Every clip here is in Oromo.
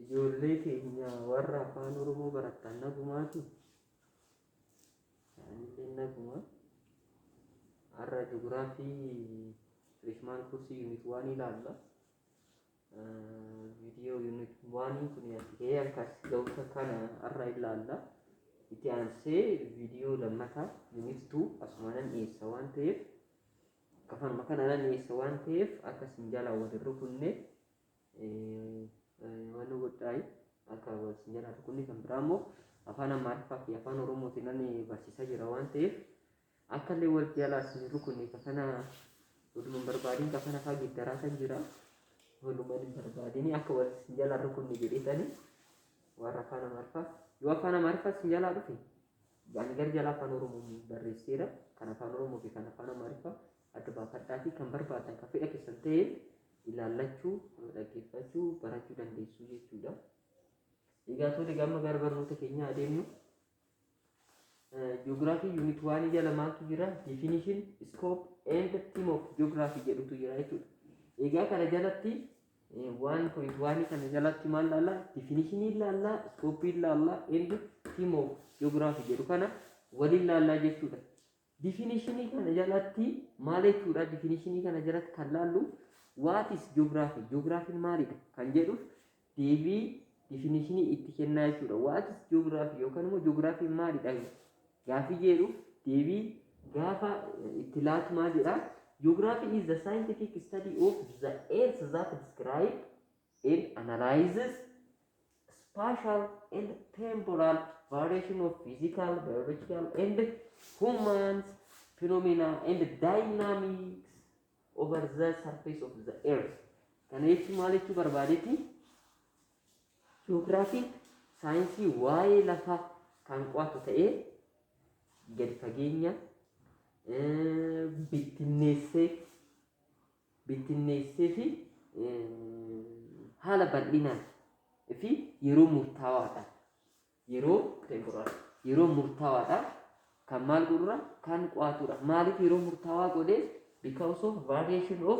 ijoollee keenya warra afaan oromoo barattan nagumaati isaanillee naguma har'a ji'ograafii freshman kursii unit waan ilaalla viidiyoo unit waanii kun asitee akkas ga'uusa kana har'a ilaalla itti aansee viidiyoo lammataa unit 2 asumanan dhiyeessa waan ta'eef Afaanuma kanaa nan dhiyeessa waan ta'eef akka isin jalaa wal hin rukunne waan nu godhaayi akka wal isin jalaa rukunne kan biraa immoo afaan Amaariffaa fi afaan Oromootiin nan barsiisaa jira waan ta'eef akka illee wal jalaa isin hin rukunne kafana oduma hin barbaadin kafana faa giddaraa kan jira oduma hin barbaadin akka wal isin jalaa rukunne jedheetani warra afaan Amaariffaa yoo afaan Amaariffaa isin jalaa dhufe Ani gara jalaa afaan Oromoon barreesseera. Kan afaan Oromoo fi kan afaan Amaariffaa adda baafadhaatii kan barbaaddan kan fedha keessan ta'een ilaallachuu, dhaggeeffachuu, barachuu dandeessuu jechuudha. Egaa toota gamma gara barnoota keenyaa adeemnu. Ji'oogiraafii yuunit waanii jala maaltu jira? Definition, scope and theme of geography jedhutu jira jechuudha. Egaa kana jalatti One point one kana jalatti maal laallaa? Definishinii laallaa, iskooppii laallaa, and theme of geography jedhu kana waliin laallaa jechuudha. Definishinii kana jalatti maal jechuudha? Definishinii kana jalatti kan laallu what is geography? Geographiin maalidha? Kan jedhuuf deebii definishinii itti kennaa jechuudha. What is geography yookaan immoo geographiin maalidha? Gaaffii jeedhuuf deebii gaafa itti laatu maal jedha? Geography is the scientific study of the earth that describe and analyzes spatial and temporal variation of physical, biological and human phenomena and dynamics over the surface of the earth. Kana jechuun maal jechuu barbaadeeti? Ji'oogiraafiin saayinsii waa'ee lafaa kan qo'atu ta'ee gadi fageenyaan bittinneessee bittinneessee fi haala bal'inaan fi yeroo murtaawaadhaan yeroo temporaal yeroo murtaawaadhaan kan maal godhura kan qo'atudha. Maaliif yeroo murtaawaa godhee because of variation of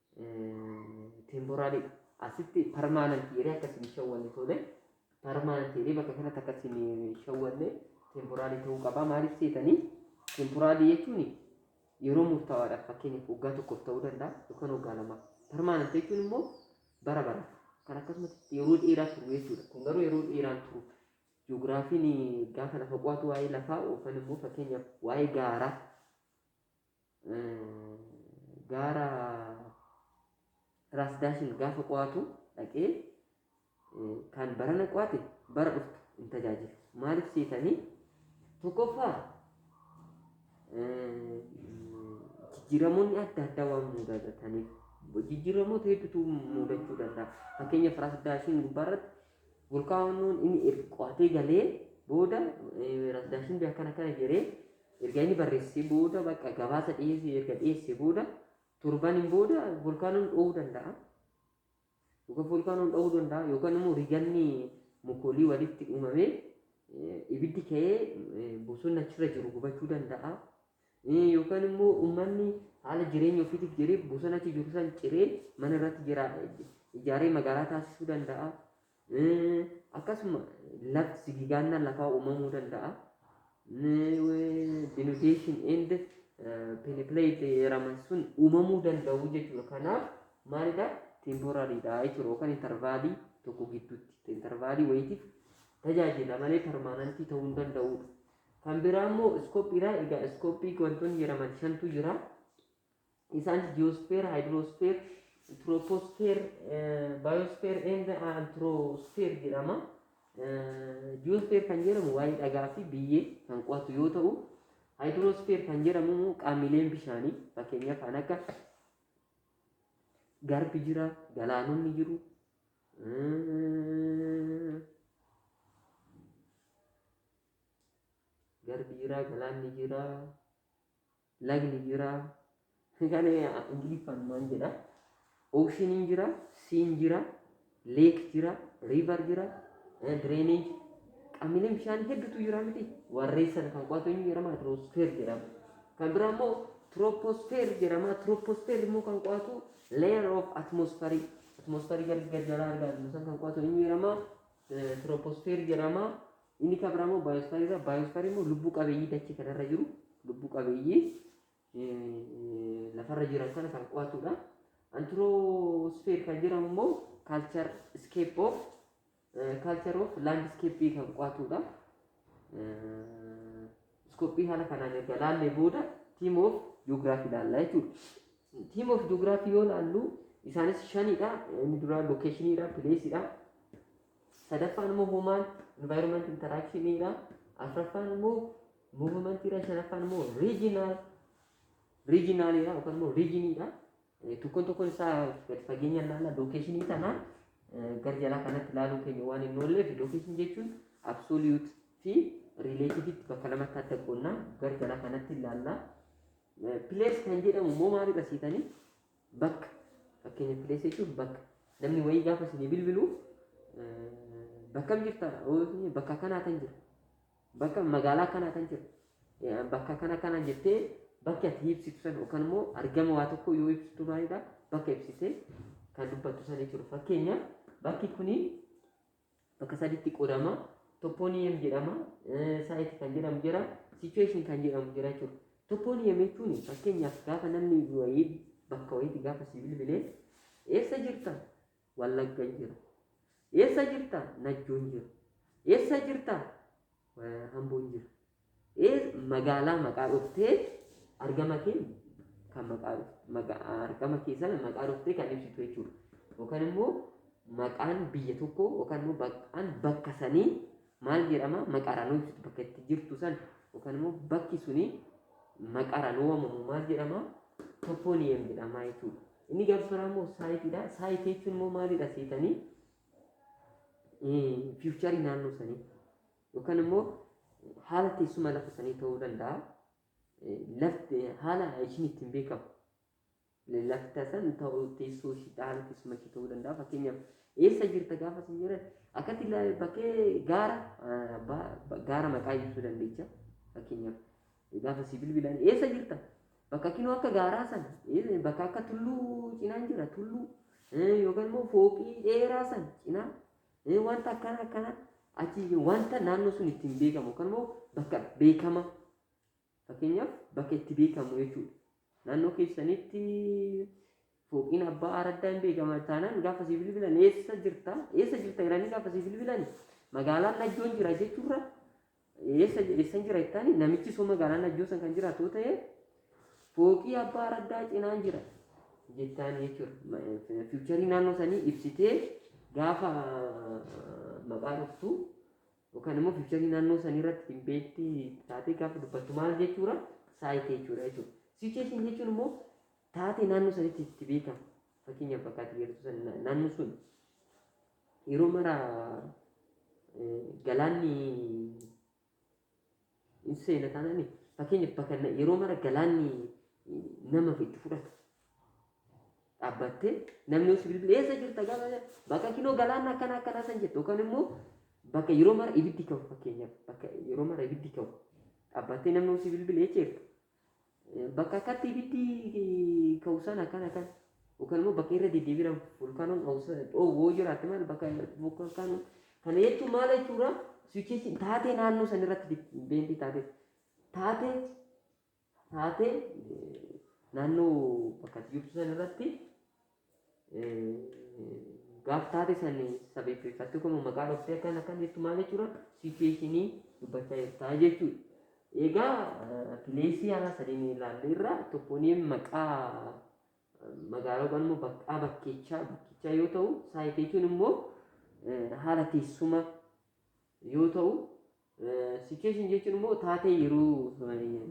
Temporary dha. Asitti permanent jedhee akka isin shawwanne tole. Permanent jedhee bakka kanatti akka isin shawwanne temporary ta'uu qaba. Maaliif seetanii? Temporary jechuun yeroo murtaawaadhaaf fakkeenyaaf waggaa tokkoof ta'uu danda'a yookaan waggaa lama. Permanent jechuun immoo bara bara kan akkasumatti yeroo dheeraa turu jechuudha. Kun garuu yeroo dheeraan turu. Ji'oogiraafiin gaafa lafa qo'atu waa'ee lafaa yookaan immoo fakkeenyaaf waa'ee gaaraa gaara Raas Daashin gaafa qo'atu dhaqee kan barana qo'ate bara dhuftu hin tajaajilu. Maaliif seetanii tokkoffaa jijjiiramoonni adda addaa waan mudataniif jijjiiramoota hedduutu mudachuu danda'a. Fakkeenyaaf Raas Daashin gubbaarratti volkaanoon inni erga qo'atee galee booda Raas Daashin biyya akkana akkana jedhee Erga inni barreessee booda bakka gabaasa dhiyeessee erga dhiyeessee booda torbaniin booda volkaanoon dho'uu danda'a. Yookaan volkaanoon dho'uu danda'a yookaan immoo riganni mukoolii walitti uumamee ibiddi ka'ee bosonni achirra jiru gubachuu danda'a. Yookaan immoo uummanni haala jireenya ofiitiif jedhee bosona achi jiru san ciree mana irratti ijaaree magaalaa taasisuu danda'a. Akkasuma lafti sigigaannaan lafaa uumamuu danda'a. Denudation and peneplate jedhaman sun uumamuu danda'u jechuudha. Kanaaf maalidha? Temporaaliidha jechuudha yookaan intarvaalii tokko gidduutti intarvaalii wayiitiif tajaajila malee permaanantii ta'uu hin danda'udha. Kan biraa immoo iskooppiidha. Egaa iskooppii wantoonni jedhaman shantu jira. Isaanis ji'oosfeer, haayidiroosfeer, tiroopoosfeer, baayoosfeer and antiroosfeer jedhama. Ji'oosfeer kan jedhamu waa'ee dhagaa fi biyyee kan qo'atu yoo ta'u, haayidiroosfeer kan jedhamu immoo qaamileen bishaanii fakkeenyaaf kan akka garbi jira, galaanonni jiru, garbi jira, galaanni jira, lagni jira kana ingiliffaan maan jedha ocean hin jira sea hin jira lake jira river jira eh, drainage qamileen bishaan hedduutu jira miti warreen sana kan qo'atu eenyu jedhama hydrosphere jedhama kan biraa immoo troposphere jedhama troposphere immoo kan qo'atu layer of atmosphere atmosphere gad gad jalaa argaa jiru san kan qo'atu eenyu jedhama Eh, troposphere jedhama Inni kan biraa immoo baayosfaarii irra baayosfaarii immoo lubbuu qabeeyyii dachee kanarra jiru lubbuu qabeeyyii eh, lafarra jiran sana kan qo'atudha. Antiroosfeer kan jedhamu immoo kaalchar iskeep of kaalchar of laandiskeeppii kan qo'atudha. Eh, Iskooppii haala kanaan erga laallee booda tiim of ji'oogiraafii ilaalla jechuudha. Tiim of ji'oogiraafii yoo laallu isaanis shanidha. Inni duraa lookeeshiniidha, pileesidha. sadaffaan immoo human environment interaction dha afraffaan immoo movement dha shanaffaan immoo regional regional dha yookaan immoo region dha Eh, tokkoon tokkoon isaa gad fageenyaan laalla location kana eh, gara jalaa kanatti ilaaluu keenya waan hin oolleef location jechuun absolute fi relative tti bakka lamatti adda qoonnaa gara jalaa kanatti ilaalla. Place kan jedhamu immoo maalidha siitanii? Bakka fakkeenya place jechuun bakka namni wayii gaafa isinii bilbilu bakkam jirta bakka kanaa tan jira bakka magaalaa kanaa tan jira bakka kana kana jettee bakki ati ibsitu san yookaan immoo argama waa tokko yoo ibsitu maalidha bakka ibsitee kan dubbattu san jechuudha fakkeenya bakki kuni bakka saditti qoodama. Toppooniyem jedhama, saayit kan jedhamu jira, sichuweeshin kan jedhamu jira jechuudha. Toppooniyem jechuun fakkeenyaaf gaafa namni wayii bakka wayiitti gaafa si bilbilee eessa jirta? Wallagga jira. Eessa jirta? Najjoon jira. Eessa jirta? Hamboon jira. Ee magaalaa maqaa dhuftee argama kee kan maqaa dhufte maga- argama kee sana maqaa dhuftee kan ibsitu jechuudha. Yookaan immoo maqaan biyya tokkoo yookaan immoo maqaan bakka sanii maal jedhama maqaadhaan yoo ibsitu bakka itti jirtu san yookaan immoo bakki suni maqaadhaan yoo waamamu maal jedhama topooniyem jedhama jechuudha. Inni gaafas biraa immoo saayitiidha. Saayitii jechuun immoo maalidha seetanii fiicharii naannoo sanii. Yookaan immoo haala teessuma lafa sanii ta'uu danda'a. Lafti haala ishiin ittiin beekamu. Lafta san ta'uu teessoo ishii haala teessuma ishii ta'uu danda'a. Fakkeenyaaf eessa jirta gaafa sin jedhan akkatti bakkee gaara gaara maqaa ibsuu dandeecha. Fakkeenyaaf gaafa si bilbilan eessa jirta? Bakka kinoo akka gaaraa san bakka akka tulluu cinaan jira tulluu yookaan immoo fooqii dheeraa san cinaa Ee wanta akkana akkana achi wanta naannoo sun ittiin beekamu yookaan immoo bakka beekama fakkeenyaaf bakka itti beekamu jechuudha. Naannoo keessanitti fooqiin abbaa araddaa hin beekama taanaan gaafa si bilbilan eessa jirta eessa jirta jedhanii gaafa si bilbilan magaalaan najjoon jira jechuurra Eessa eessan jira jettaani namichi soo magaalaan ajjoo san kan jiraatu yoo ta'e fooqii abbaa araddaa cinaan jira jettaan jechuudha. Fiicharii naannoo sanii ibsitee gaafa maqaa dhuftu yookaan immoo fiicharii naannoo sanii irratti dhimbeetti taatee gaafa dubbattu maal jechuudha saayitii jechuudha jechuudha. Sicheetiin jechuun immoo taatee naannoo sanitti itti beekamu fakkeenyaaf bakka ati beektu sana naannoo sun Yeroo mara galaanni hin seena taanaan fakkeenyaaf bakka na- yeroo mara galaanni nama itti fudhata. Dhaabbattee namni osoo bilbila eessa jirta gaafa jedhu, bakka kinoo galaanni akkana akkanaa san jettu yookaan immoo bakka yeroo mara ibiddi ka'u fakkeenyaaf bakka yeroo mara ibiddi ka'u dhaabbattee namni osoo bilbila eessa jirta Bakka akkatti ibiddi ka'u sana akkan akkan yookaan immoo bakka irra deddeebiidhaan volkaanoon dhoowwoo jiraatte maal bakka volkaanoon kana jechuun maal jechuudha siwicheechi taatee naannoo san irratti beentii taatee taatee taatee naannoo bakka jirtu san irratti gaaf taate sani sabeeffatti kun maqaa dhoftee akkan akkan jettu maal jechuudha sichueeshinii dubbachaa jirtaa jechuudha. Egaa pileesii haala sadiin ilaalle irraa tokkoon maqaa magaalaa yookaan immoo baqqaa bakkeechaa bakkichaa yoo ta'u saayit jechuun immoo haala teessuma yoo ta'u Situation jechuun immoo taatee yeroo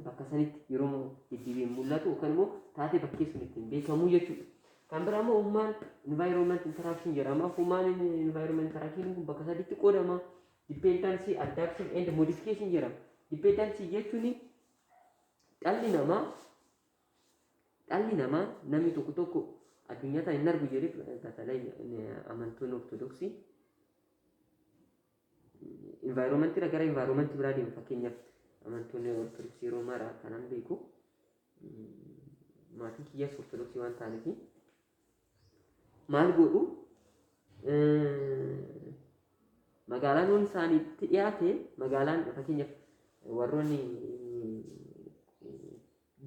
bakka sanitti yeroo deddeebiin mul'atu yookaan immoo taatee bakkee sun ittiin beekamu jechuudha. Kan biraa immoo human environment interaction jedhama. Human environment interaction kun bakka sadiitti qoodama. Dependency, adaptation and modification jedhama. Dependency jechuun dhalli namaa dhalli namaa namni tokko tokko addunyaa tana hin argu jedhee batalay amantoonni ortodoksii Environment irra gara environment biraa deemu fakkeenyaaf amantoonni ortodoksii roomaa irraa kanan beeku maatiin kiyyaas ortodoksii waan ta'aniif maal godhu magaalaan waan isaaniitti dhiyaate magaalaan fakkeenyaaf warroonni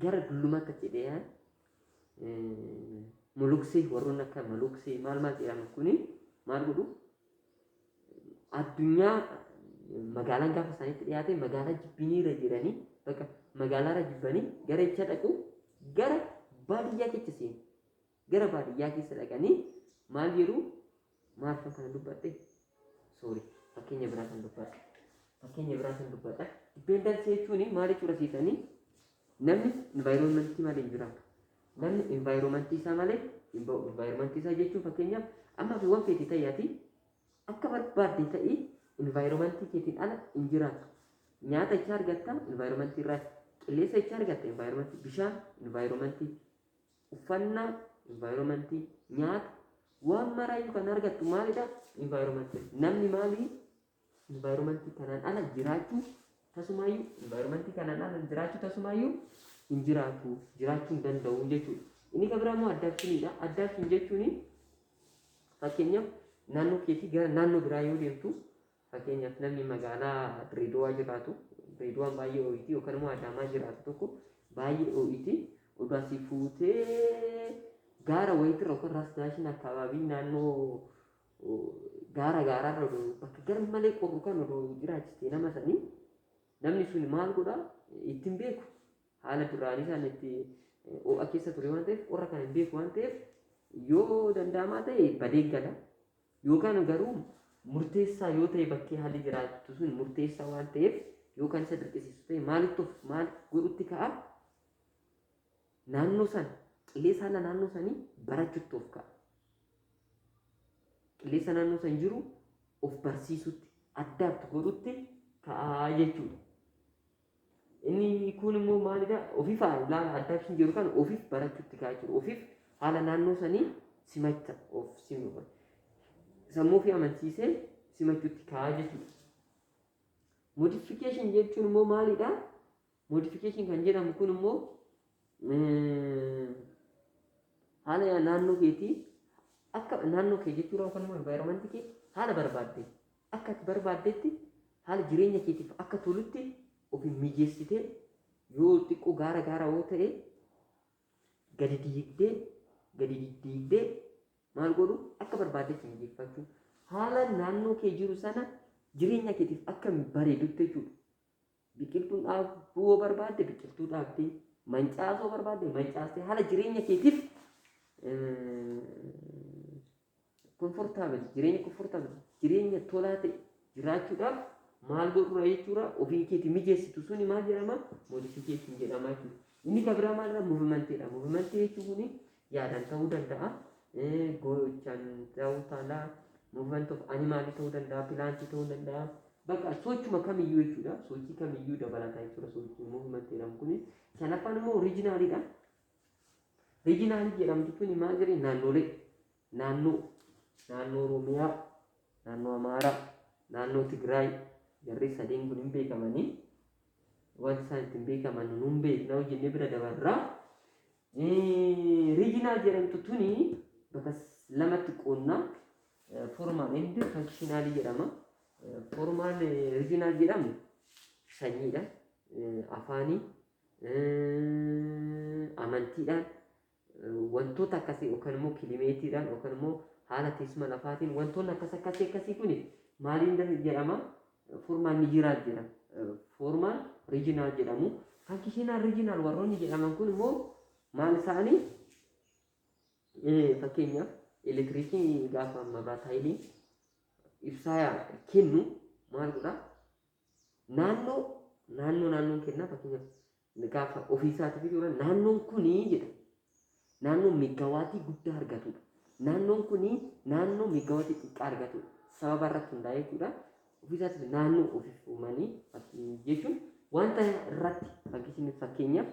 gara dullumatti achi dee'an muluksee warroonni akka maluksee maal maal jedhaman kuni maal godhu addunyaa magaalaan gaafa isaanitti dhiyaate magaalaa jibbiniirra jiranii bakka magaalaarra jibbanii gara jecha dhaqu gara baadiyyaa keessa seenu. Gara baadiyyaa keessa dhaqanii maal jedhu maalfan kana dubbadhe soori fakkeenya biraa kan dubbadhe fakkeenya biraa kan dubbadhe dipendansii jechuun maal jechuudha siitanii namni envaayiroomantii malee hin jiraatu namni envaayiroomantii isaa malee hin ba'u envaayiroomantii isaa jechuun fakkeenyaaf amma fi waan feete ta'eeti akka barbaadde ta'e envaayiroomantii keetiin ala hin jiraatu nyaata icha argatta envaayiroomantii irraa qilleensa icha argatta envaayiroomantii bishaan envaayiroomantii Uffannaa, environment, nyaata, waan maraayyuu kan argattu maalidha? Environment. Namni maali? Environment kanaan ala jiraachuu tasumaayyuu environment kanaan ala jiraachuu tasumaayyuu hin jiraatu jiraachuu hin danda'u jechuudha. Inni kan biraa immoo addaabshiniidha. Addaabshin jechuun fakkeenyaaf naannoo keetii gara naannoo biraa yoo deemtu Fakkeenyaaf namni magaalaa Dirreedawaa jiraatu, Dirreedawaan baay'ee oo'iti yookaan immoo Adaamaa jiraatu tokko baay'ee oo'iti oduu asii fuutee gaara wayitirra yookaan Raas Daashin akkaabaabii naannoo gaara gaaraarra oduu bakka gar malee qorru kan oduu jiraachiste nama sanii namni sun maal godha ittiin beeku haala duraanii isaan itti oo'a keessa ture waan ta'eef qorra kana hin beeku waan ta'eef yoo danda'amaa ta'e badee gala Yookaan garuu murteessaa yoo ta'e bakkee haalli jiraattu sun murteessaa waan ta'eef yookaan isa dirqisiisu ta'e maalitti of maal godhutti ka'a? Naannoo sana qilleensa haala naannoo sanii barachutti of ka'a. Qilleensa naannoo san jiru of barsiisutti addaatti godhutti ka'a jechuudha. Inni kuun immoo maalidha? Ofiif ilaala addaction jedhu kana ofiif barachuutti kaa jiru. Ofiif haala naannoo sanii simacha of simu. Sammuu fi amansiisee simachuutti kaa jechuudha. Modification jechuun immoo maalidha? Modification kan jedhamu kun immoo haala naannoo keetii akka naannoo kee jechuudha yookaan immoo environment kee haala barbaadde Akka ati barbaaddetti haala jireenya keetiif akka tolutti of hin mijeessitee yoo xiqqoo gaara gaara yoo ta'e gadi diigdee gadi diddiigdee maal godhu akka barbaaddetti mijeeffachuu haala naannoo kee jiru sana jireenya keetiif akka bareedutti jechuudha. Biqiltuun dhaabuu yoo barbaadde biqiltuu dhaabdee mancaasuu barbaadde mancaastee haala jireenya keetiif Comfortable jireenya comfortable jireenya tolaa ta'e jiraachuudhaaf maal godhuudha jechuudha ofii keetii mijeessitu suni maal jedhama modification jedhama jechuudha. Inni kan biraa maalidha movimantiidha movimantii jechuun kuni yaadaan ta'uu danda'a gochaan ta'uu taala movement of animaalii ta'uu danda'a pilaantii ta'uu danda'a bakka sochuma kamiyyuu jechuudha sochii kamiyyuu dabalataa jechuudha sochii movimantii jedhamu kuni shanaffaan immoo oriijinaaliidha Riijinaalii jedhamtu tuni maal jedhee naannolee naannoo naannoo Oromiyaa, naannoo Amaaraa, naannoo Tigraay jarri sadeen kun hin beekamanii wanti isaan ittiin beekaman nu hin beekna hojjennee bira dabarraa. Riijinaal jedhamtu tuni bakka lamatti qoonnaa formaal endi fankishinaalii jedhama. Formaal riijinaal jedhamu sanyiidha, afaanii, amantiidhaan wantoota akkasii yookaan immoo kilimeetiidhaan yookaan immoo haala teessuma lafaatiin wantoonni akkas akkasii akkasii kun maaliin dha- jedhama formaan ni jiraat jedha formaan riijinaal jedhamu fankishinaal riijinaal warroonni jedhaman kun immoo maal isaanii Eh, fakkeenyaaf elektiriikii gaafa mabraat haayilii ibsaa kennu maal godha Naannoo naannoo naannoon kennaa fakkeenyaaf gaafa ofii isaatiif jechuudha naannoon kunii jedha. Naannoon meeggawaatii guddaa argatudha. Naannoon kunii naannoo meeggawaatii xiqqaa argatudha. Sababa irratti hundaa'ee jechuudha. Ofii isaatiif naannoo ofiif uumanii fakkii jechuun wanta irratti fakkii fakkeenyaaf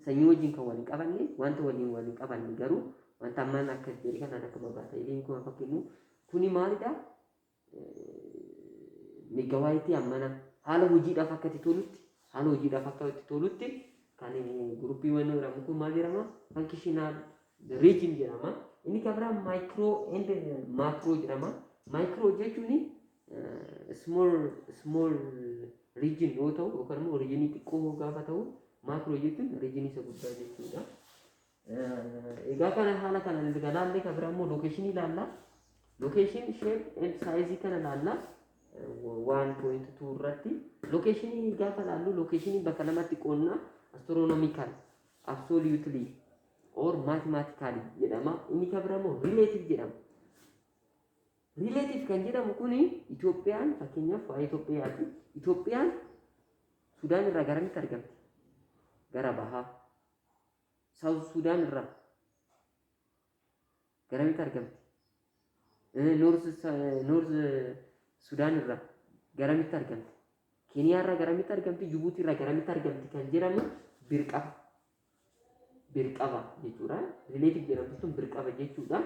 sanyii wajjin kan wal hin qabanne wanta waliin wal hin qabanne garuu wanta ammaan akka jedhe kanaan akka babaa ta'e liin kun fakkiin kuni maalidha? megawaayiti ammana haala hojiidhaaf akka itti tolutti haala hojiidhaaf akka itti tolutti kan guruppii wanni jedhamu kun maal jedhama fankishinaal riijin jedhama inni kan biraa maayikiroo endi maakiroo jedhama maayikiroo jechuun small small riijin yoo ta'u yookaan immoo riijinii xiqqoo gaafa ta'u maakiroo jechuun riijinii isa guddaa jechuudha. Egaa kana haala kana erga laallee kan bira immoo lookeeshinii ilaalla. Lookeeshinii ishee saayizii kana ilaalla. Waan pooyinti tuu irratti lookeeshinii gaafa ilaallu lookeeshinii bakka lamatti qoodna astiroonomikaal absoluutilii or maatimaatikaali jedhama. Inni kan bira immoo rileetiif jedhama. Rileetiif kan jedhamu kuni Itoophiyaan fakkeenyaaf waa'ee Itoophiyaati. Itoophiyaan Sudaan irraa garamitti argamti? Gara bahaa. Saawuz Suudaan irraa garamitti argamti? Noorz Suudaan irraa garamitti argamti? Keeniyaa irraa garamitti argamti? Jibuutii irraa garamitti argamti kan jedhamu birqaba. Birqaba jechuudha. Rileetif jedhamtu sun birqaba jechuudha.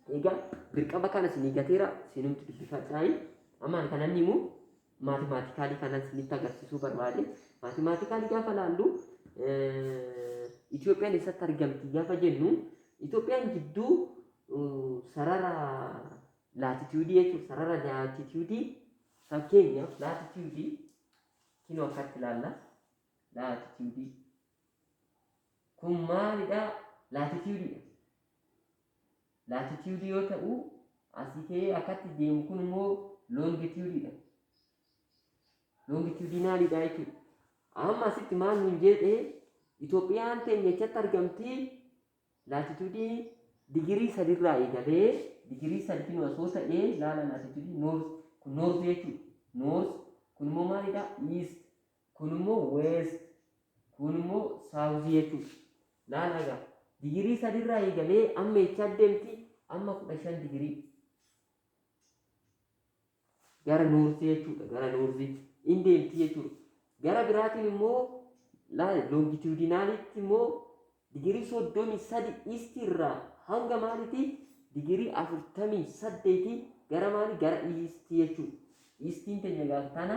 Egaa birqaba kana isinii gateera isinumti dubbifadhaayi. Amma ani kanan himu mathematically kanan sinitti agarsiisuu barbaade mathematically gaafa laallu Itoophiyaan eessatti argamti gaafa jennu Itoophiyaan jidduu sarara laatitiyuudii jechuun sarara laatitiyuudii fakkeenyaaf laatitiyuudii kinoo akkatti ilaalla laatitiyuudii kun maalidha laatitiyuudiidha laatitiyuudii yoo ta'u asii ka'ee akkatti deemu kun immoo loongitiyuudiidha. Loongitiyuudinaaliidha jechuudha. Amma asitti maal nuun jedhee Itoophiyaan teenya echatti argamti laatitudii digirii sadirraa eegalee digirii sadii osoo ta'ee laala laatitudii noors kun noors jechuudha. Noors kun immoo maalidha? Iist Kun immoo west, kuun immoo south jechuudha. Laala egaa. Digirii sadirraa eegalee amma eechaa deemti amma kudha shan digirii. Gara noortii jechuudha. Gara noortii in deemti jechuudha. Gara biraatiin immoo laala longitudinaalitti immoo digirii soddomii sadi iistii irraa hanga maalitii digirii afurtamii saddeetii gara maali gara iistii jechuudha. Iistiin teenya gaaf tana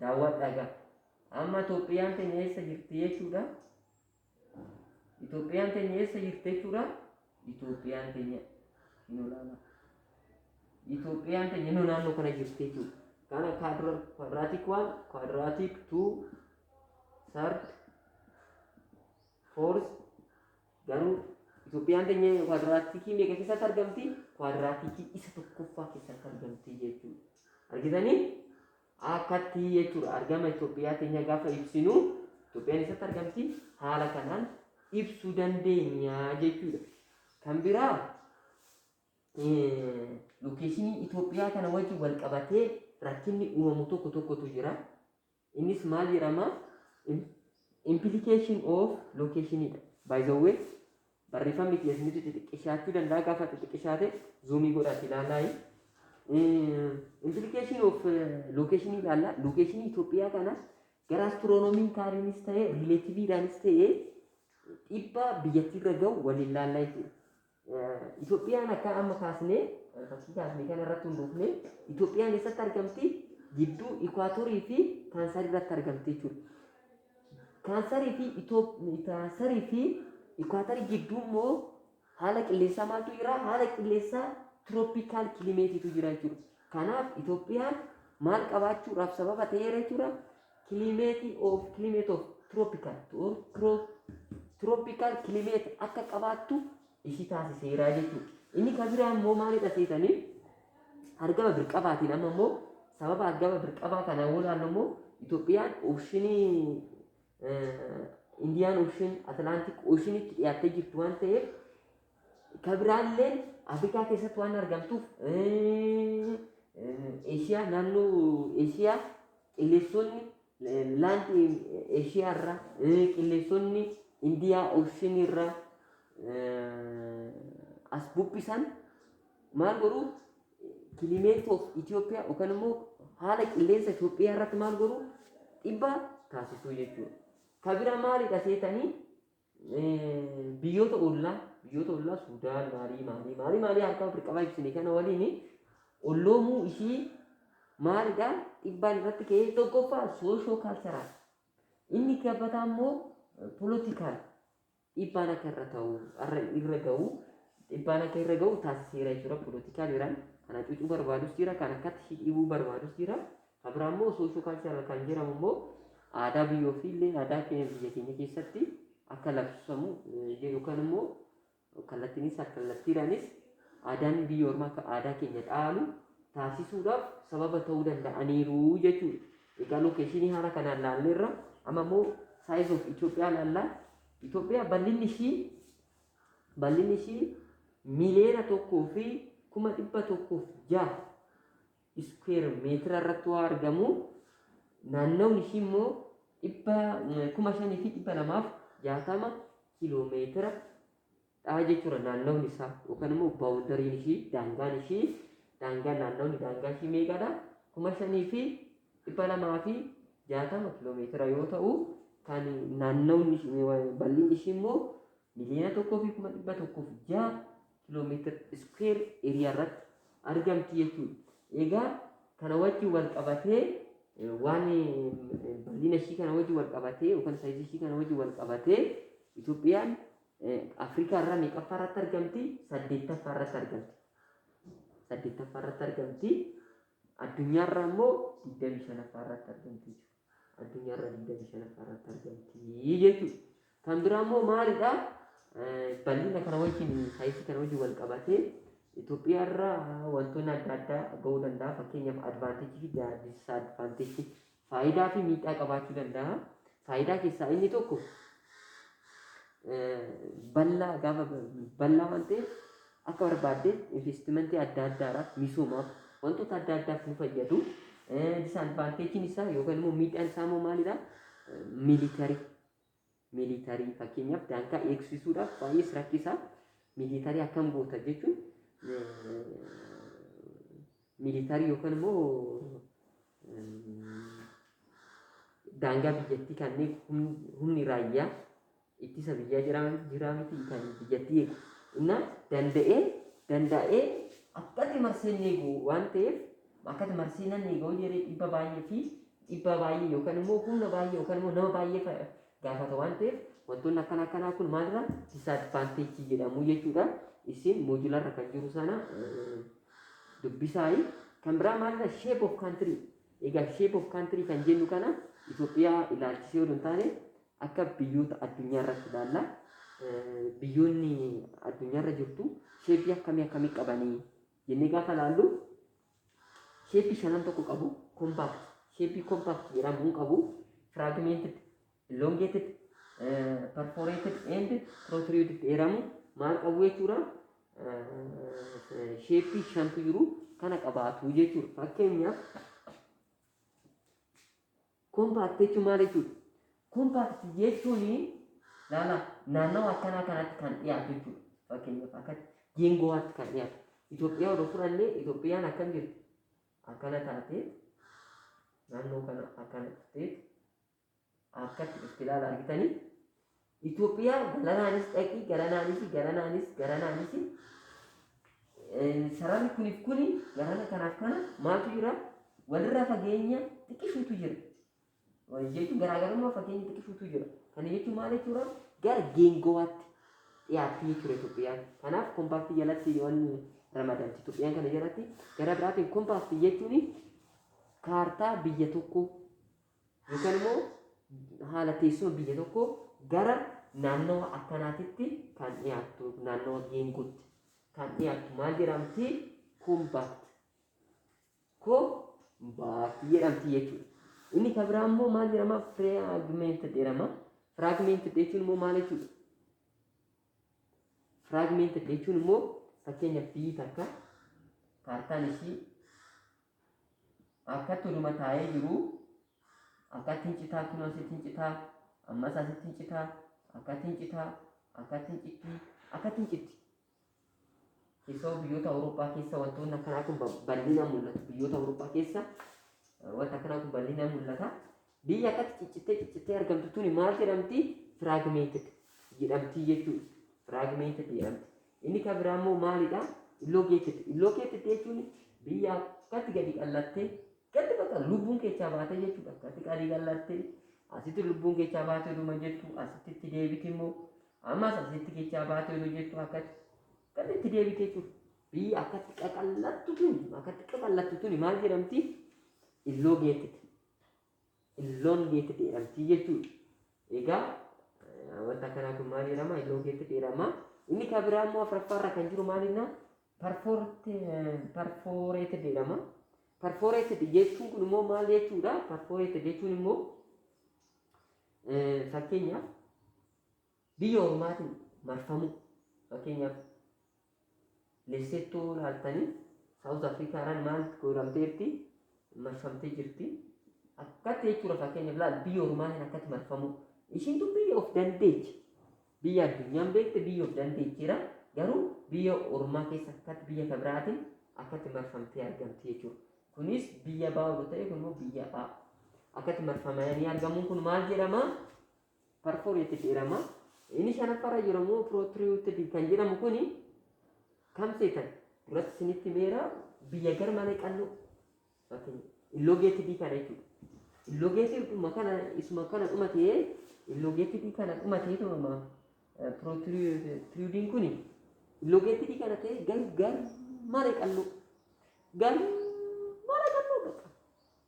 daawwadhaa gaa amma Itoophiyaan teenya eessa jirti jechuudha Itoophiyaan teenya eessa jirti jechuudha Itoophiyaan teenya hin olaanaa Itoophiyaan teenya innoo naannoo kana jirti jechuudha kana kwaadraatik waan kwaadraatik tuu sardi foorsi Garuu Itoophiyaan teenya kwaadiraatiikii meeqa keessatti argamti? Kwaadiraatiikii isa tokkoffaa keessatti argamti jechuudha. Argitanii? Akkatti jechuudha. Argama Itoophiyaa teenya gaafa ibsinu Itoophiyaan eessatti argamti? Haala kanaan ibsuu dandeenya jechuudha. Kan biraa eh, lokeeshinii Itoophiyaa kana wajjin wal qabatee rakkinni uumamu tokko tokkotu jira. Innis maal jedhama? Implication of location dha. By the way, barreeffamni kiyya isinitti xixiqqishaachuu danda'a gaafa xixiqqishaate zuumii godhaati ilaalaayi. Implication of location ilaalla. Location Itoophiyaa kana gara astiroonomiin kaariinis ta'e riileetiviidhaanis ta'e dhiibbaa biyyattiirra ga'u waliin ilaallaa jechuudha. Itoophiyaan akka amma kaasnee fakkii kaasne kana irratti hundoofne Itoophiyaan eessatti argamti? Gidduu Ikwaatorii fi Taansarii irratti argamti jechuudha. Taansarii fi Taansarii fi Ikwaatarii gidduu immoo haala qilleensaa maaltu jira? Haala qilleensaa tirooppikaal kilimeetiitu jira jechuudha. Kanaaf Itoophiyaan maal qabaachuudhaaf sababa ta'eera jechuudha? Climate of climate of tropical to or tro, tropical climate akka qabaattu ishii taasiseera jechuudha. Inni kan biraa immoo maalidha seetanii? Argama birqabaatiin amma immoo sababa argama birqabaa kana yoo ilaallu immoo Itoophiyaan ooshinii Indiyaan ooshin Atlaantik ooshin itti dhiyaattee jirtu waan ta'eef Ka biraalleen Afrikaa keessatti waan argamtuuf eh, eh, Eeshiyaa naannoo Eeshiyaa qilleensonni eh, laandi Eeshiyaa irraa eh, qilleensonni Indiyaa Ooshinii irraa eh, as bubbisan maal godhu climate of Ethiopia yookaan immoo haala qilleensa Itoophiyaa irratti maal godhu dhibbaa taasisuu jechuudha. Ka bira maalidha seetanii biyyoota ollaa biyyoota ollaa Suudaan maalii maalii maalii maalii harkaa ofirra qabaa ibsine kana waliin olloomuu ishii maalidha dhibbaan irratti ka'ee tokkoffaa soosho kaalcharaal inni gabbataa immoo poolotikaal dhibbaan akka irra ta'u irra irra ga'u dhibbaan akka irra ga'u taasiseera jechuudha poolotikaal iraan kan hacuucuu barbaadus jira kan akkatti ishii dhibuu barbaadus jira Ka biraa immoo socio cultural kan jedhamu immoo aadaa biyya ofii illee aadaa keenya biyya keenya keessatti akka labsamu eh, jedhu kan immoo kallattiinis kallattiidhaanis aadaan biyya ormaa akka aadaa keenya dhaalu taasisuudhaaf sababa ta'uu danda'aniiru jechuudha. Egaa lokeeshinii haala kanaan laalleerra amma immoo size of Itoophiyaa laallaa Itoophiyaa bal'inni ishii bal'inni ishii miliyoona tokkoo fi kuma dhibba tokkoof jaha iskuweer meetira irratti waa argamu naannoon ishii immoo dhibba kuma shanii fi dhibba lamaaf jaatama kiiloomeetira dhaa jechuudha naannoon isaa yookaan immoo baawundariin ishii daangaan ishii daangaan naannoon daangaa ishii meeqadha kuma shanii fi dhibba lamaa fi jaatama kiiloomeetira yoo ta'u kan naannoon bal'inni ishii immoo miliyoona tokkoo fi kuma dhibba tokkoof ja'a kilometer square area irratti argamti jechuudha. Egaa kana wajjin wal qabatee eh, waan eh, bal'ina ishii kana wajjin wal qabatee yookaan saayizii ishii kana wajjin wal qabatee Itoophiyaan eh, Afrikaa irraa meeqaffaa irratti argamti? Saddeettaffaa irratti argamti. Saddeettaffaa irratti argamti. Addunyaa irraa immoo digdamii shanaffaa irratti argamti jechuudha. addunyaa irra 25ffaa irratti argamti jechuudha. Kan biraa immoo maalidha? Bal'ina kana wajjin saayisii kana wajjin wal qabatee Itoophiyaa irra wantoonni adda addaa ga'uu danda'a. Fakkeenyaaf advaanteejii fi disadvantage advaanteejii faayidaa fi miidhaa qabaachuu danda'a. Faayidaa keessaa inni tokko bal'aa gaafa bal'aa waan ta'eef Akka barbaaddeen investimentii adda addaadhaaf, misoomaaf, wantoota adda addaaf nu fayyadu. Disaadvaanteejiin isaa yookaan immoo miidhaan isaa immoo maalidha? Miilitarii. Miilitarii fakkeenyaaf daangaa eegsisuudhaaf baay'ees rakkisaa. Miilitarii akkam goota jechuun miilitarii yookaan immoo daangaa biyyattii kanneen humni raayyaa ittisa biyyaa jiraa jiraa miti kan biyyattii eegu inna danda'ee danda'ee akkati marsee hin eegu waan ta'eef akkati marsee nan eega hojii jedhee dhibba baay'ee fi dhibbaa baay'ee yookaan immoo humna baay'ee yookaan immoo nama baay'ee fa- gaafata waan ta'eef wantoonni akkana akkanaa kun maalirra disaadvaanteejii jedhamu jechuudha isin moojularra kan jiru sana eh, dubbisaayi kan biraa maalirra shape of country egaa shape of country kan jennu kana Itoophiyaa ilaalchisee odoo hin taane Akka biyyoota addunyaa irratti ilaalla. Biyyoonni addunyaa irra jirtu sheeppii akkamii akkamii qabanii jennee gaafa ilaallu sheeppii shanan tokko qabu kompaakti. Sheeppii kompaakti jedhamuun qabu firaagimented, elongated, perforated and protruded jedhamu maal qabu jechuudha. Sheeppii shantu jiru kana qabaatu jechuudha. Fakkeenyaaf Compact jechuun maal jechuudha? Compact jechuun laala naannawa akkanaa kanatti kan dhiyaatu jechuudha. Fakkeenyaaf akka geengowaatti kan dhiyaatu. Itoophiyaa odoo fudhannee Itoophiyaan akkam jirti? Akkana taatee naannoo kana akkana taatee akkatti dhufti ilaala argitanii? Itoophiyaa galanaanis dhaqii galanaanis galanaanis galanaanis sararri kuniif kuni garana kanaaf kana maaltu jira walirraa fageenya xiqqishuutu jira. Jechuun garaagarummaa fageenya xiqqishuutu jira. Kana jechuun maal jechuudha? Gara geengowaatti dhiyaatti jechuudha Itoophiyaan. Kanaaf kompaastii jalatti yoon ramadamti Itoophiyaan kana jalatti gara biraatiin kompaastii jechuun kaartaa biyya tokkoo yookaan immoo haala teessuma biyya tokkoo gara naannawa akkanaatitti kan dhiyaattu naannawa geenguutti kan dhiyaattu maal jedhamti? Kumbaatti. Kumbaatti jedhamti jechuudha. Inni kan biraa immoo maal jedhama? Firaagmeenti jedhama. Firaagmeenti jechuun immoo maal jechuudha? Firaagmeenti jechuun immoo fakkeenya biyyi takka kaartaan ishii Akkatti oduma taa'ee jiruu akkatti hin citaa kunoo asitti hin citaa ammas asitti hin citaa akkatti hin citaa akkatti hin cittii akkatti hin citti. Keessoo biyyoota Awurooppaa keessa wantoonni akkanaa kun bal'inaan mul'atu. Biyyoota Awurooppaa keessa wanti akkanaa kun bal'inaan mul'ata. Biyyi akkatti ciccittee ciccittee argamtu tuni maal jedhamti? Fragmented jedhamti jechuudha. Fragmented jedhamti. Inni kan biraa immoo maalidha? Illocated. Illocated jechuun biyya akkatti gadi qallattee gadi bakka lubbuun keessaa baatee jechuudha. Akkatti gadi qallattee asitti lubbuun keessaa baatee dhuma jettu asitti itti deebiti immoo ammas asitti keessaa baatee oduu jettu akkatti akkatti itti deebite jechuudha. Biyyi akkatti qaqallattu tuni akkatti qaqallattu tuni maal jedhamti? Illocated. illoon geetti dheeramtii jechuudha. Egaa eh, wanta akkanaa kun maal jedhama? Illoon geetti dheerama. Inni kan biraa immoo afraffaa irra kan jiru maal jennaan? Perforeeted jedhama. Perforeeted jechuun kun immoo maal jechuudha? Perforeeted jechuun immoo eh, fakkeenyaaf biyya ormaatiin marfamuu fakkeenyaaf Leessittuu laaltanii Saawuz Afrikaadhaan maal gooramteerti marfamtee jirti. Akkatti jechuudha fakkeenyaaf laal biyya ormaatiin akkatti marfamu. Ishiitu biyya of dandeechi. Biyya addunyaan beekte biyya of dandeechiira. Garuu biyya ormaa keessa akkatti biyya kan biraatiin akkatti marfamtee argamti jechuudha. Kunis biyya baa'udha ta'e kun immoo biyya ba'a. Akkatti marfamanii argamuun kun maal jedhama? parforetti jedhama. Inni shanaffaarra jiru immoo protruded kan jedhamu kuni kam seetan duratti isinitti meera biyya gar malee qal'oo yookiin illogeetidii kana jechuudha. Illogeetiduma kana isuma kana dhuma ta'ee illogeetidii kana dhuma ta'ee tumama protrudiin kuni illogeetidii kana ta'ee gar gar malee qal'oo gar malee qal'oo bakka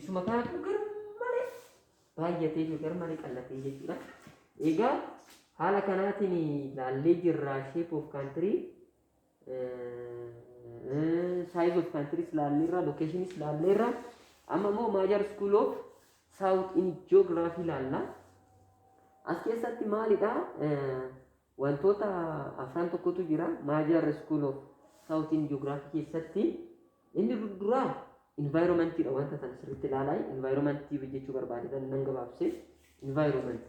Isuma kanatu gar malee baay'atee fi gar malee qallatee jechuudha. Egaa haala kanaatiin ilaallee jirra shape of country size of countries ilaalleerra locations ilaalleerra amma immoo major school of south in geography ilaalla. As keessatti maalidha? Wantoota afran tokkotu jira Maajaarra School of South in Geography keessatti inni duraa environment dha wanta tan sirriitti ilaalaa environment jechuu barbaadedha nan gabaabse environment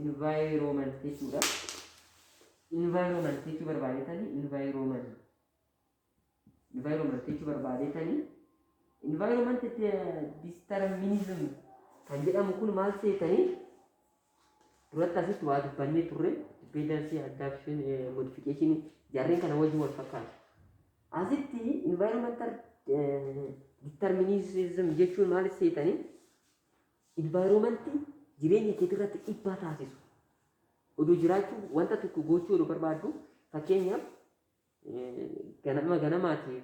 environment jechuudha environment jechuu barbaadetani environment Environment jechuu barbaadetani. Environment determinism kan jedhamu kun maal seetanii duratti asitti waa dubbannee turre dependency adaptation eh, modification jarreen kana wajjin wal fakkaatu. Asitti environmental eh, determinism jechuun maal seetanii environment jireenya keetii irratti dhiibbaa taasisu. Oduu jiraachuu wanta tokko gochuu oduu barbaaddu fakkeenyaaf Ganama ganamaati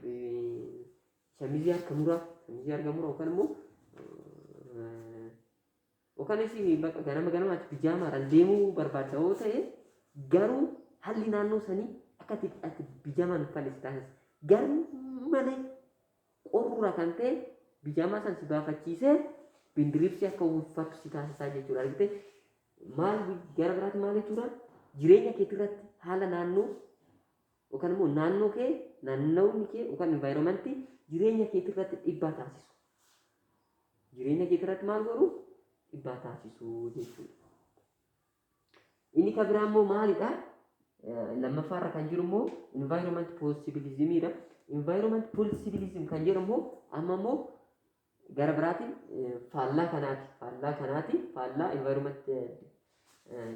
shamizii harka muraa shamizii harka muraa yookaan immoo yookaan isin bakka ganama ganamaati bijaamaadhaan deemuu barbaadda yoo ta'e garuu haalli naannoo sanii akka itti ati bijaamaan uffannee si taasisa. Garuu malee qorruura kan ta'e bijaamaa san si baafachiisee bindiriibsi akka uffattu si taasisaa jechuudha argite Maal gara biraatti maal jechuudha? Jireenya keetii irratti haala naannoo yookaan immoo naannoo kee naannawni kee yookaan environmentii jireenya keetii irratti dhiibbaa taasisu. Jireenya keetii irratti maal godhu? Dhiibbaa taasisu jechuudha. Inni kan biraa immoo maalidha? Lammaffaa irra kan jiru immoo environment possibilismidha. Environment possibilism kan jedhu immoo amma immoo Gara biraatiin faallaa kanaati. Faallaa kanaati. Faallaa environment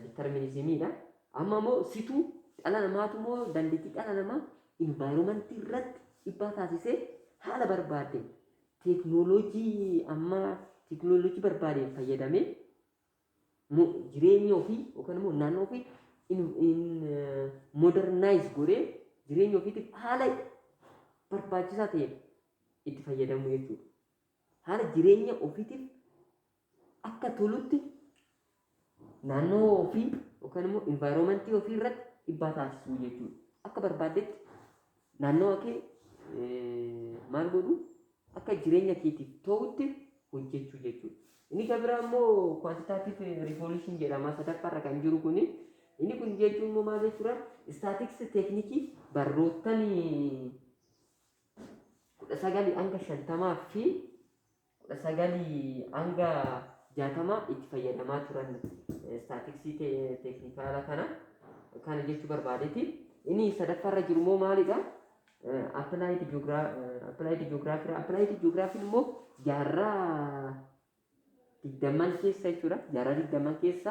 determinismidha. Amma immoo situ dhala namaatu immoo dandeettii dhala namaa environment irratti dhibbaa taasisee haala barbaadeen teeknooloojii amma teeknooloojii barbaadeen fayyadamee mo- jireenya ofii yookaan immoo naannoo ofii in, in modernize godhee jireenya ofiitiif haala barbaachisaa ta'een itti fayyadamuu jechuudha. Haala jireenya ofiitiif akka tolutti naannoo ofii yookaan immoo environmentii ofii irratti dhibbaa taasisuu jechuudha. Akka barbaaddetti Naannawa kee maal godhuu? Akka jireenya keetiif ta'utti hojjechuu jechuudha. Inni kan biraa immoo quantitative revolution jedhama sadaffaa irra kan jiru kuni. Inni kun jechuun immoo maal jechuudha? Statics teeknikii barroottan kudha sagalii hanga shantamaa fi 19-60 itti fayyadamaa turan istaatiksii teeknikaala kana kana jechuu barbaadeeti. Inni sadaffaarra jiru immoo maalidha? Appilaayid ji'oogiraafiidha. Appilaayid ji'oogiraafiin immoo jaarraa digdamman keessa jechuudha. Jaarraa digdamman keessa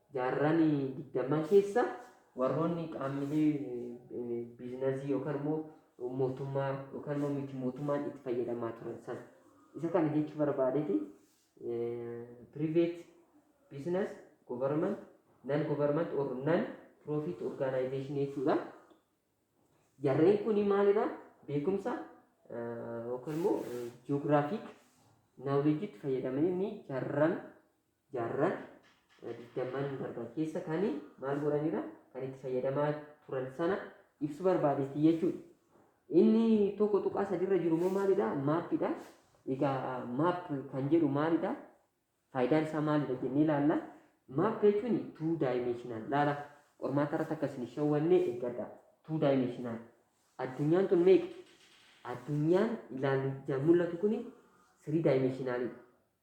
Jaarran digdamman keessa warroonni qaammilee biiznazii yookaan immoo mootummaa yookaan immoo miti mootummaan itti fayyadamaa turan sana. Isa kana jechuu barbaadeti private business, government, non government or non profit organization jechuudha. Jarreen kun maalidha? Beekumsa yookaan immoo geographic knowledge itti fayyadamanii jarran jaarran digdamman darban keessa kan maal godhanidha kan itti fayyadamaa turan sana ibsu barbaadeetti jechuudha. Inni tokko tuqaa sadiirra jiru immoo maalidha? Maappiidha. Egaa maap kan jedhu maalidha? Faayidaan isaa maalidha jennee ilaalla. Maap jechuun tuu daayimeeshinaal laala. Qormaata irratti akka isin shawwanne eeggadha. Tuu daayimeeshinaal. Addunyaan tun meeqa? Addunyaan ilaalu ijaan mul'atu kun sirii daayimeeshinaalidha.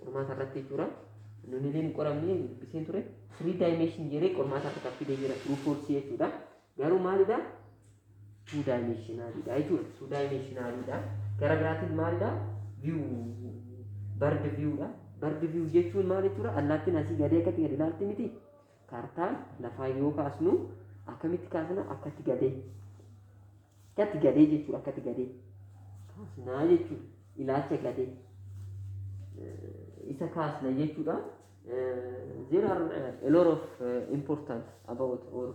qormaata irratti jechuudha. Nuni illee hin qoramne dubbiseen ture. Three dimension jedhee qormaata irratti fidee jira. True false jechuudha. Garuu maalidha? Two dimensionalidha jechuudha. Two dimensionalidha. Gara biraatiin maalidha? View bird viewdha. Bird view jechuun maal jechuudha? Allaattiin asii gadee akkatti gadi ilaalti miti. Kaartaa lafaa yoo kaasnu akkamitti kaasna akkatti gadee akkatti gadee jechuudha akkatti gadee kaasnaa jechuudha ilaacha gadee isa kaasna jechuudha. There are a lot of important about or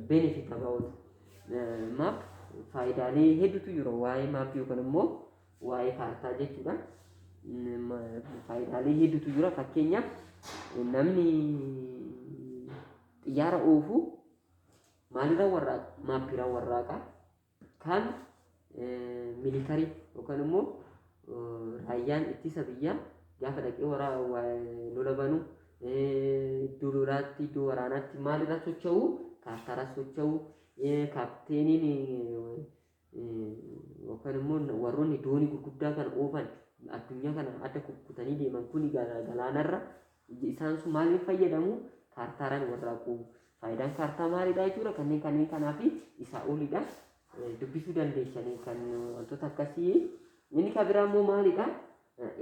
benefit about map faayidaalee hedduutu jira waa'ee maappii yookaan immoo waa'ee kaartaa jechuudha. Faayidaalee hedduutu jira. Fakkeenyaaf namni xiyyaara oofu maalirra warraaqa? Maappiirra warraaqa. Kan militarii yookaan immoo raayyaan ittisa biyyaa gaafa dhaqee waraa lola banu iddoo lolaatti iddoo waraanaatti maalirra socho'u? Kaartaarra socho'u. Kaapteeniin yookaan immoo warroonni doonii gurguddaa kana oofan addunyaa kana adda kukkutanii deeman kuni gala- galaanarra ija- isaan sun maaliin fayyadamu kaartaaraan warraaqu faayidaan kaartaa maalidha jechuudha kanneen kanneen kanaa fi isaa olidha Eh, dubbisuu dandeessanii kan wantoota akkasii inni kan biraa immoo maalidha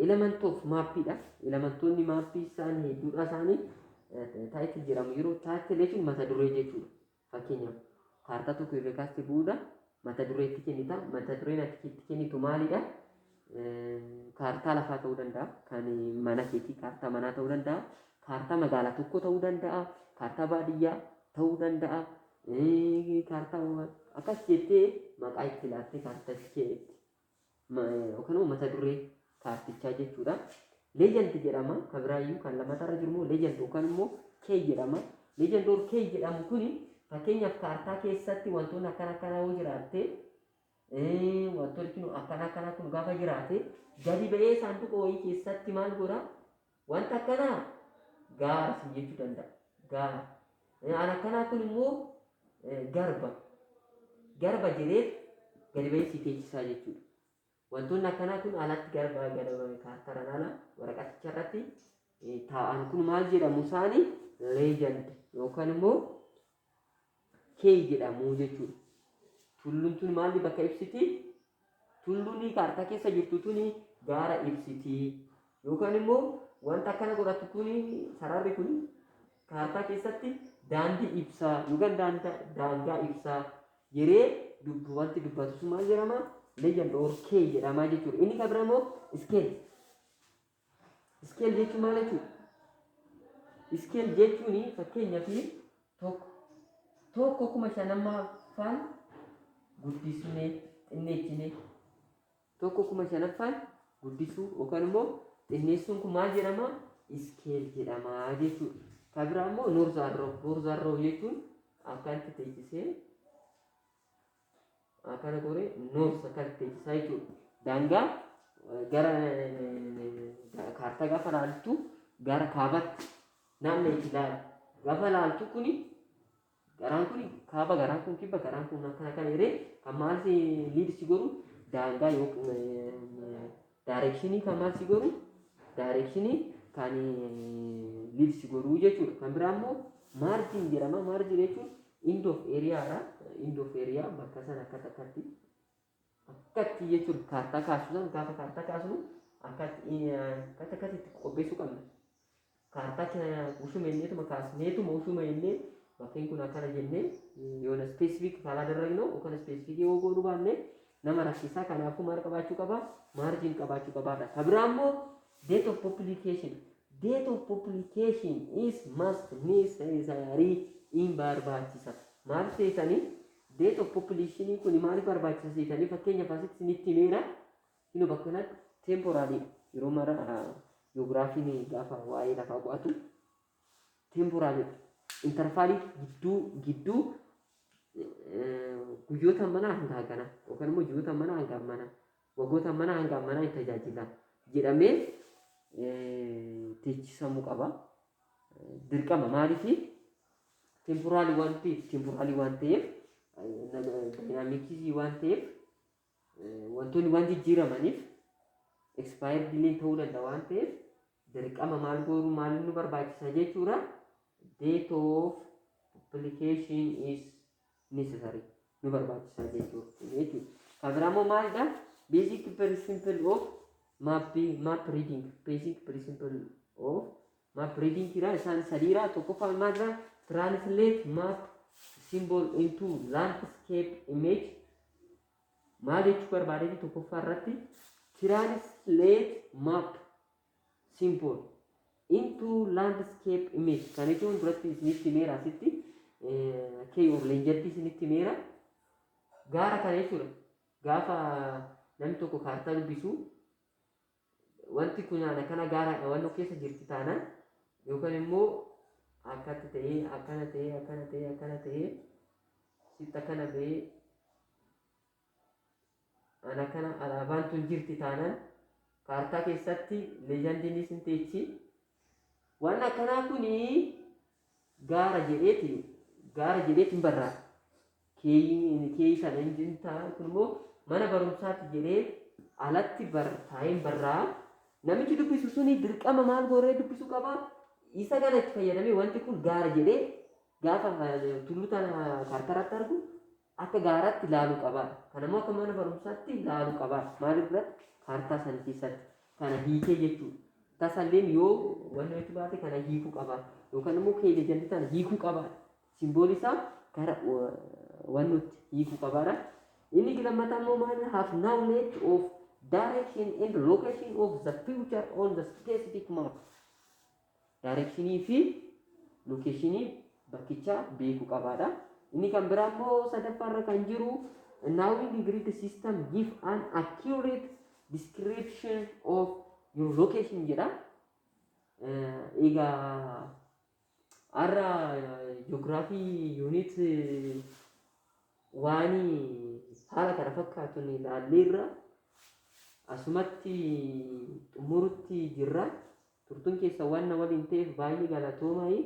element of maappiidha elementoonni maappii isaan hedduudha isaanii taayitil jedhamu yeroo taayitil jechuun mata duree jechuudha Fakkeenyaaf, kaartaa tokko erga kaaste booda mata duree itti kennita. Mata dureen ati itti kennitu maalidha? Kaartaa lafaa ta'uu danda'a. Kan mana keetii kaartaa manaa ta'uu danda'a. Kaartaa magaalaa tokko ta'uu danda'a. Kaartaa baadiyyaa ta'uu danda'a. Kaartaa akkas jettee maqaa itti laattee kaartaa itti kenniti. yookaan immoo mata duree kaartichaa jechuudha. Legend jedhama. Kan biraa iyyuu kan lammataa irra jiru immoo legend yookaan immoo key jedhama. Legend or key jedhamu kun fakkeenyaaf kaartaa keessatti wantoonni akkana akkana yoo jiraatte wantoonni kun akkana akkana kun gaafa jiraate gadi ba'ee saanduqa wayii keessatti maal godha Wanta akkanaa gaara siin jechuu danda'a. Gaara. Aan akkanaa kun immoo garba. Garba jedheet gadi bahee si teechisaa jechuudha. Wantoonni akkanaa kun alatti garba garba kaartaraan ala waraqaticha irratti taa'an kun maal jedhamu isaanii leejand yookaan immoo kee jedhamu jechuudha. Tulluun tun maalli bakka ibsiti? Tulluun kaartaa keessa jirtu tuni gaara ibsiti. Yookaan immoo wanta akkana godhattu tuni sararri kun kaartaa keessatti daandii ibsaa yookaan daanda- daangaa ibsaa yeree dubbu wanti dubbatu sun maal jedhama? Legend or kee jedhama jechuudha. Inni kan biraa immoo scale. Iskeel jechuun maal jechuudha? Iskeel jechuun fakkeenya fi tokko tokko kuma shanammaffaan guddisnee xinneessine tokko kuma shanaffaan guddisuu yookaan immoo xinneessuun kun maal jedhama? Iskeel jedhama jechuudha. Kan biraa immoo noorzaarroo. Noorzaarroo jechuun akkanatti teessisee Akana gore North Sakar Techisaa jechuudha. Daangaa gara kaartaa gaafa laaltu gara kaabatti naanna itti laala. Gaafa laaltu kuni garaan kuni kaaba garaan kun kibba garaan kun akkana kan hiree kan maal si liid si godhu daangaa yookiin Daareekshinii kan maal si godhu? Daareekshinii kan liid si godhu jechuudha. Kan biraa immoo maarjiin jedhama. Maarjii jechuun end of area irraa end of area bakka sana akka takkatti akkatti jechuudha. Kaartaa kaasuu sana gaafa kaartaa kaasnu akkatti akka takkatti itti qopheessuu qabna. kaartaa keenya ushuma jenneetuma kaasneetuma ushuma jennee bakkeen kun akkana jennee yoona ispeesifiik karaa darragnu yookaan ispeesifiikii yoo goonu baanne nama rakkisaa kanaafuu maal qabaachuu qaba maarjiin qabaachuu qabaadha. Ka biraa immoo date of publication date of publication is must necessary in barbaachisa maal seetanii date of publication kun maaliif barbaachisa seetanii fakkeenyaaf asitti isinitti himeera Ino bakka kanatti temporary dha. Yeroo mara ji'oogiraafiin gaafa waa'ee lafaa qo'atu temporary dha. Interfaalii gidduu gidduu guyyoota manaa hanga hagana yookaan immoo ji'oota manaa hanga manaa waggoota manaa hanga manaa hin tajaajila jedhamee teechisamuu qaba. Dirqama maaliif temporaalii waan ta'eef temporaalii waan ta'eef daayinaamikii waan ta'eef Wantoonni waan jijjiiramaniif expire dilin ta'uu danda'a waan ta'eef dirqama maal gooruu maaliin nu barbaachisa jechuudha. Date of publication is necessary nu barbaachisa jechuudha. Kan biraa immoo maalidha? Basic principle of map map reading basic principle of Map reading kira isaan sadiira tokkoffaa maal jira translate map symbol into landscape image maal jechuu barbaadeeti tokkoffaa irratti translate map symbol into landscape image kan jechuun duratti isinitti meera asitti kee of leenjatti isinitti meera gaara kana jechuudha gaafa namni tokko kaartaa dubbisu Wanti kun ana kana gaaraadha waan nu keessa jirti taanaan yookaan immoo akkatti ta'ee akkana ta'ee akkana ta'ee akkana ta'ee sitti akkana ba'ee ana kana alaabaan tun jirti taanaan kaartaa keessatti leejandiin isin teechi waan akkanaa kuni gaara jedheeti gaara jedheeti hin barraa keeyii sana hin dintaa kun immoo mana barumsaatti jedhee alatti bar taa'een barraa namichi dubbisu suni dirqama maal gooree dubbisu qaba isa kana itti fayyadamee wanti kun gaara jedhee gaafa eh, tullu tana kaartaratti argu akka gaaraatti laaluu qabaa kanammoo akka mana barumsaatti laaluu qabaa maaliif biratti kaartaa sana keessatti kana hiikee jechuudha tasalleen yoo wanni nuti baate kana hiikuu qabaa yookaan immoo keenya jalli kana hiikuu qabaa simboolii isaa gara wanni nuti hiikuu qabaadha inni lammataa immoo maal have knowledge of direction and location of the future on the specific map Daareekshinii fi lokeeshinii bakkichaa beekuu qabaadha. Inni kan biraa immoo sadaffaa irra kan jiru knowing grid system give an accurate description of your location jedha. Egaa har'a ji'oogiraafii yuunit waan haala kana fakkaatuun ilaalleerra asumatti xumurutti jirra. Turtun keessan waan na waliin ta'eef baay'ee galatoomaai.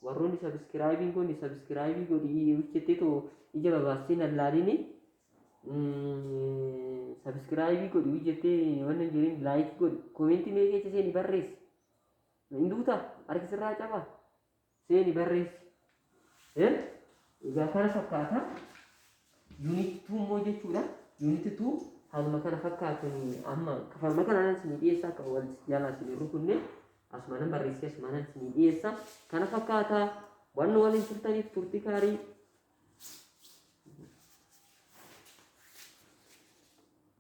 Warroonni subscribe hin goone subscribe godhi hojjettee too ija babaassee nan laalini. Subscribe godhi hojjettee waan hin jirin like godhi. Koomeentii mee keessa seeni barreessi. Hin duuta harki sirraa cabaa. Seeni barreessi. Eh? Egaa kana fakkaata. Unit 2 immoo jechuudha. Unit 2 haaluma kana fakkaatuun amma kafalma kanaan isinii dhiyeessa akka wal jaalaa isinii rukunne asuma nan barreessee asuma nan isinii dhiyeessa. Kana fakkaata waan nu waliin turtaniif turtii gaarii.